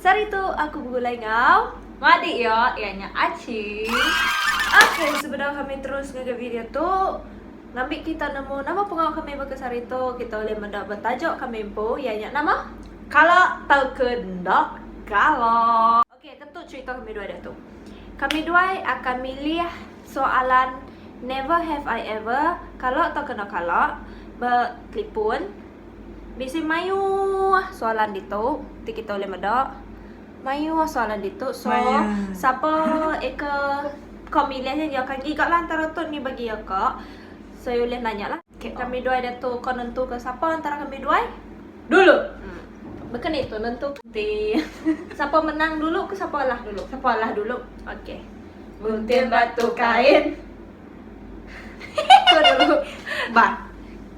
Sehari tu aku begulai enggau. Madik iya, iya nya Acing. Ok, sebedau kami terus ngagai video tu, ngambi kita nemu nama pengawa kami baka sehari tu, kita ulih meda betajuk kami empu, iya nya nama? Kala tauka enda kala. Ok, tentu cherita kami duai diatu. Kami duai akan milih soalan never have I ever, kala tauka enda kala, ba telefon. Bisi mayuh soalan ditu ti kita ulih meda. Mayuh soalan ditu. So, Mayuh. sapa eka ko milih nya nya ka giga lah antara tu ni bagi iya ka. So, iya ulih nanya lah. Okay, kami duai datu ko nentu ke sapa antara kami duai? Dulu. Hmm. Baka ni tu nentu ke? Ti. sapa menang dulu ke sapa alah dulu? Sapa alah dulu. Okay. Gunting batu kain. Ko dulu. Ba.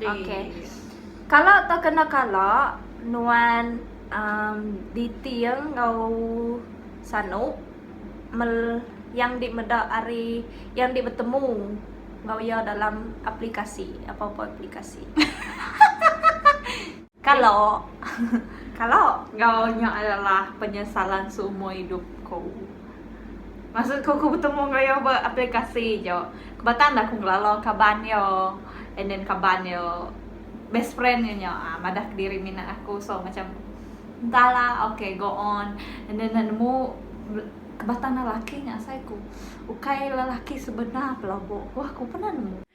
Okey. Kala tu kena kala nuan um diting enggau sanu mel yang di meda ari yang di betemu enggau iya dalam aplikasi, apa-apa aplikasi. Kalo. Kalo. Enggau nya adalah penyesalan seumur idup ku. Maksud ku, ku betemu enggau iya ba aplikasi aja. Kebatak enda ku ngelala kaban iya and then kaban iya best friend iya nya uhh madah kediri mina aku so macam entahlah okay go on and then enda nemu kebatak enda laki nya asai ku. Ukai lelaki sebenar pelabuh ku pernah nemu.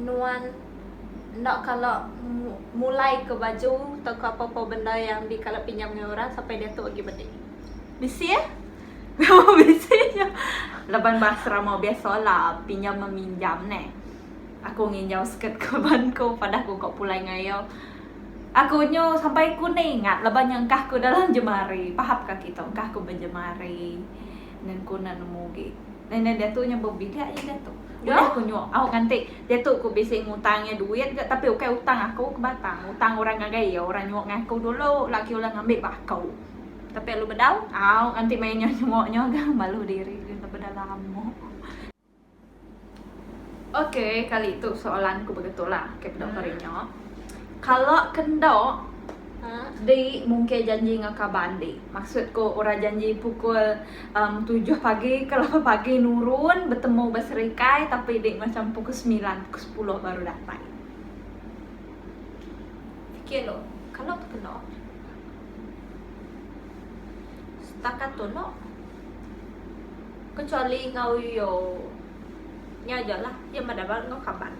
nuan enda kala mulai ke baju tauka apa-apa benda yang dikala pinjam ngan orang sampai diatu agi medi. Bisi eh. Memang bisi nya. Laban bahasa rama biasalah pinjam meminjam neh. Aku nginjau skirt kaban ku pada aku ka pulai ngai iya. Aku nyu sampai ku ne ingat laban nya engkah ku dalam jemari. Paham ka kita engkah ku bejemari. Nengku ne nemu agi. Endang diatu nya bebilik aja diatu. Udah aku nyuak au nganti diatu ku bisi ngutang iya duit ga tapi ukai utang aku ke batang utang orang ngagai iya orang nyuak ngai aku dulu lagi ulah ngambi ba aku. Tapi alu bedau. Au nganti maya nya nyuak nya ga malu diri nya laban dah lama. Ok kali tu soalan ku begitu la ok bedau kari nya. Kalo ke enda di mungkir janji enggau kaban di maksud ku orang janji pukul. Um, tujuh pagi kalau pagi nurun bertemu berserikai tapi dek macam pukul sembilan, pukul sepuluh baru datai. Fikir lo, kalau tu kena. Setakat tu no. Kecuali ngau yo. Nya je lah. Dia mada bal ngau kaban.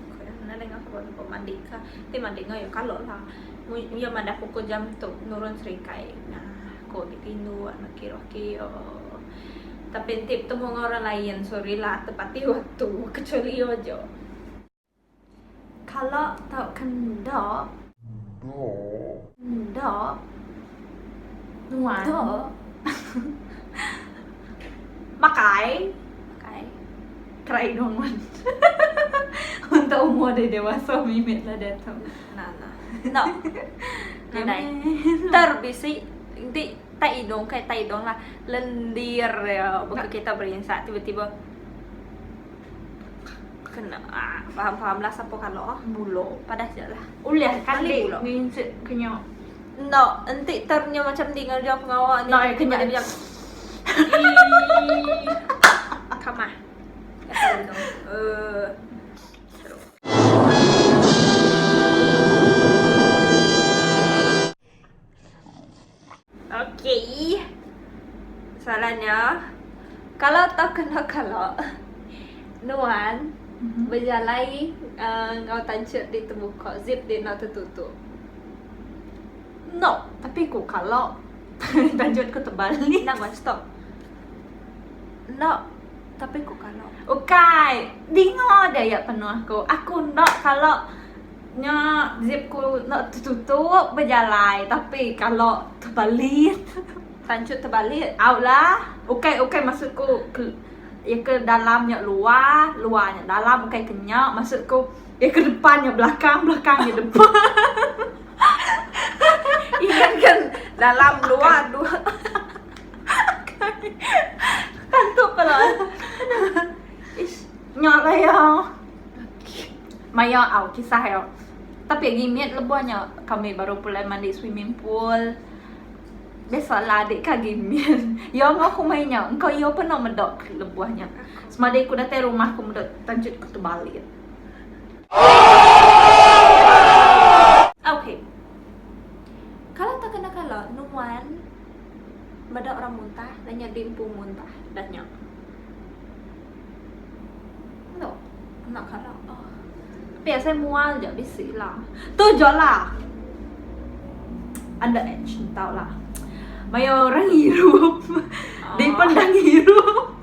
Nada ngau kaban ko mandi ka. Ti mandi ngau yo kalau lah. Dia mada pukul jam tu nurun serikai. Nah. Ko agi tindu anak kiroh kio. Tapi enti betemu enggau orang lain sorry lah tepati waktu ke cholio jo. Kalo tauka endo. Endo. Nuan. Endo. Makai. Makai. Try no mun. Unta umur deh dewasa mimit lah deh tu. Nah nah. No. Nadai. Ter bisi di tai idong kai tai idong lah lendir ya buka kita berinsa tiba-tiba kena ah, faham-faham lah siapa kalau ah mulo padah je lah. Ulih kali nginset kenyo. Enda enti term nya macam ni ngerja pengawa ni. Enda eh kena dia. Kamah. Uh. Okay. Soalannya, kalau tak kena kalau Nuan mm-hmm. berjalai uh, ngau tancur di terbuka, zip di nak tertutup. No, tapi ku kalo tanjut ku tebal ni nang one stop. No, tapi ku kalo. Ukai, dingo dia ya penuh ku. Aku no kalo nya zip ku no tetutup bejalai tapi kalo tebalit tanjut tebalit au lah. Ukai ukai maksud ku ke iya ke dalam nya luar, luar nya dalam ukai ke nya maksud ku. Iya ke depan nya belakang belakang nya depan. Iya ke dalam luar dua. Tantu pala. Ish, nya lah ya. Maya au kisah ya. Tapi limit lebuh nya kami baru pulai mandi swimming pool. Biasalah adik ka gimit. Ya ngau aku mai nya, engkau ya pun nak meda lebuh nya. Semadi aku datai rumah aku meda tanjut aku terbalik. Ok. Kala takena kala nuan meda orang muntah dah nyadi empu muntah dah nya. Endo enda kala ah. Tapi asai mual ja bisi la. Tu ja la. Under age entau la. Mayuh orang ngirup. Dipendang ngirup.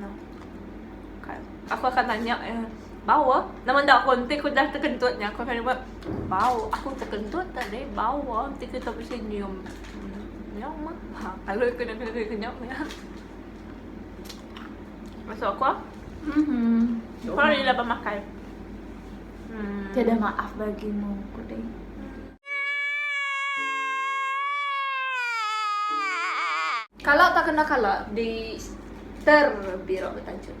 Nah. Kan. Aku akan tanya ya. Bau ah. Nama nda aku enti aku dah tekentut nya aku akan nyebut bau. Aku tekentut tadi bau ah enti kita bisi nyium. Ya mah. Ha, kalau aku nak kena kena ya. Masuk aku ah. Mhm. Kau ila bemakai. Hmm. Tiada maaf bagimu, Kuding. Kala tak kena kala di ter bira betanchut.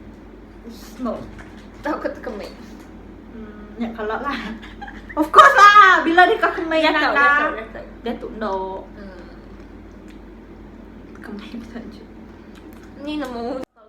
Smoke. Tau ke tekemei. Hmm, nya kala lah. of course lah. Bila di ka kemei ya tau. Ya tau. Ya tau. No. Hmm. Tekemei betanchut. Ni nemu.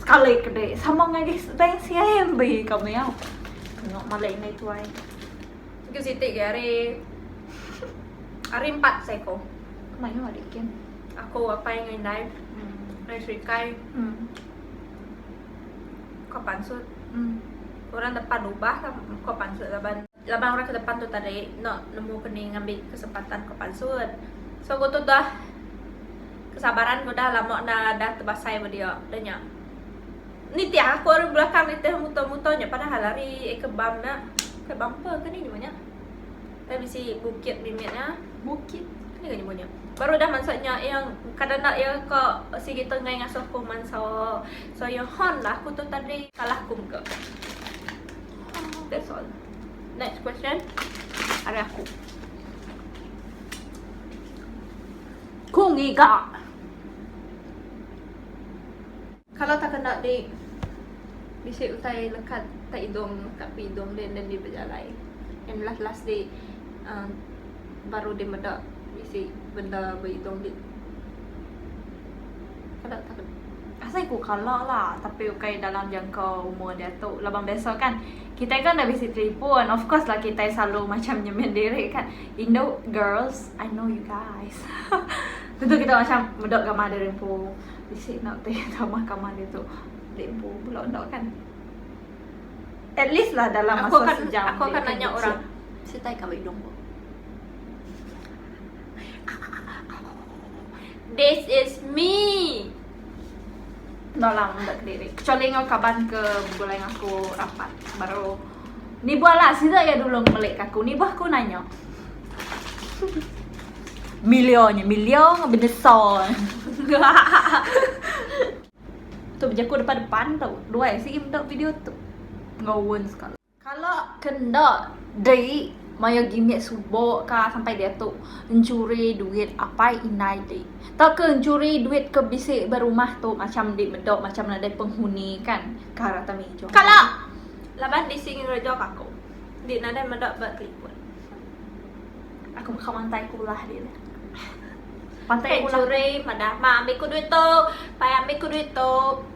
Sekali ke dek sama ngagai bank CIMB ka meh. Tengok malik indai tuai. Sikit siti ke hari hari empat seko. Mayu adik kin. Aku apai ngai indai. Hmm. Ngai serikai. Hmm. Ko pansut. Hmm. Orang depan rubah ko pansut laban. Laban orang ke depan tu tadi enda nemu keni ngambi kesempatan ke pansut. So ku tu dah kesabaran ku dah lama enda dah tebasai ba dia. Dah nya. Nitih aku ari belakang nitih muto-muto nya padahal ari eka bam nya. Eka bumper ke ni nyebut nya. Tapi bisi bukit mimit nya. Bukit. Keni ke nyebut nya. Baru dah mansa nya yang kada enda iya ka sigi tenggai ngasuh ku mansa. So iya hon lah aku tu tadi kalah ku mega. That's all. Next question. Ari aku. Ku ngiga. Kalau tak kena di bisi utai lekat tak idung tak pi idung dia dan dia berjalai. And last last di uh, baru dia meda bisi benda beidung di Kada takut. Asai ku kala la tapi ukai dalam jangka umur diatu laban biasa kan kitai kan dah bisi telefon of course lah kitai selalu macam nyemen diri kan Indo girls I know you guys tentu kita macam meda gamah diri empu bisi nak teh gamah gamah dia tu dek empu pula enda kan at least lah dalam masa aku akan, sejam aku akan nanya orang sitai kau hidung aku This is me. Nolang meda kediri. Kecuali enggau kaban ke begulai enggau aku rapat baru nibuh lah sida ya dulu ngemelik aku. Nibuh aku nanya. Milio nya, milio enggau beneso. tu bejaku depan-depan tu. Duai sigi meda video tu. Enggau won sekali. Kala ke enda dei mayar gimit suba ka sampai diatu enchuri duit apai indai dei. Tauka enchuri duit ke bisi ba rumah tu macham indi meda macham nadai penghuni kan ka rata mija. Kala laban bisi ngereja ka aku indi nadai meda ba telipon. Aku mega mantai ku ulah ri ne. Pantai ulah. Enchuri madah ma ambi ku duit tu, pai ambi ku duit tu.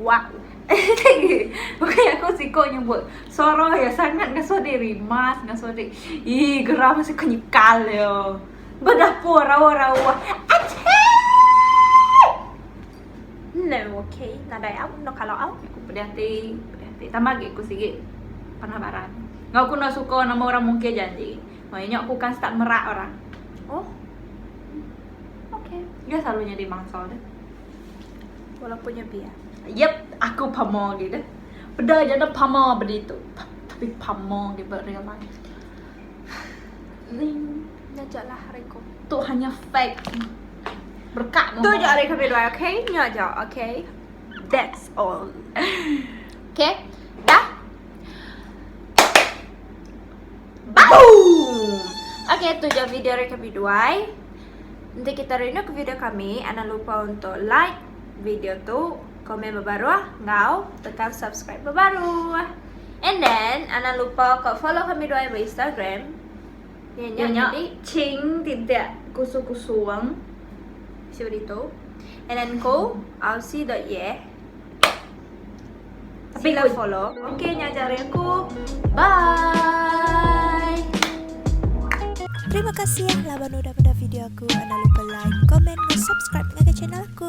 Wak Bukai aku siko nyebut Soroh ya sangat ngasoh dek rimas Ngasoh dek Ih geram ngasoh ko nyekal yo Ba dapur rawa rawa Achii No ok nadai au no kalo au Aku pedih ati pedih ati Tambah agi aku sigi Panah baran Ngau aku no suko nama orang mungkir janji Maya nyo aku akan start merak orang Oh Ok Dia selalu nyadi mangsa tu Walaupun nya biak. Yep, aku pama agi deh. Peda aja enda pama ba ditu. Tapi pama agi ba real life. Ling nyaja lah hari ko. Tu hanya fake. Berkak mama. Tu je hari kami dua, okay? Nya je, okay? That's all. okay? Dah? Boom! Okay, tu je video hari kami dua. Enti kita rinduka video kami, anang lupa untuk like video tu, komen bebaruh enggau tekan subscribe bebaruh. And then anang lupa ko follow kami dua di Instagram. Ianya Ianya di Ching titik kusu-kusuang. Siapa ditu? And then ko ausi.ye Sila follow Okay nya aja dari aku Bye Terima kasih ya laban udah pada video aku Jangan lupa like, comment, dan subscribe ke channel aku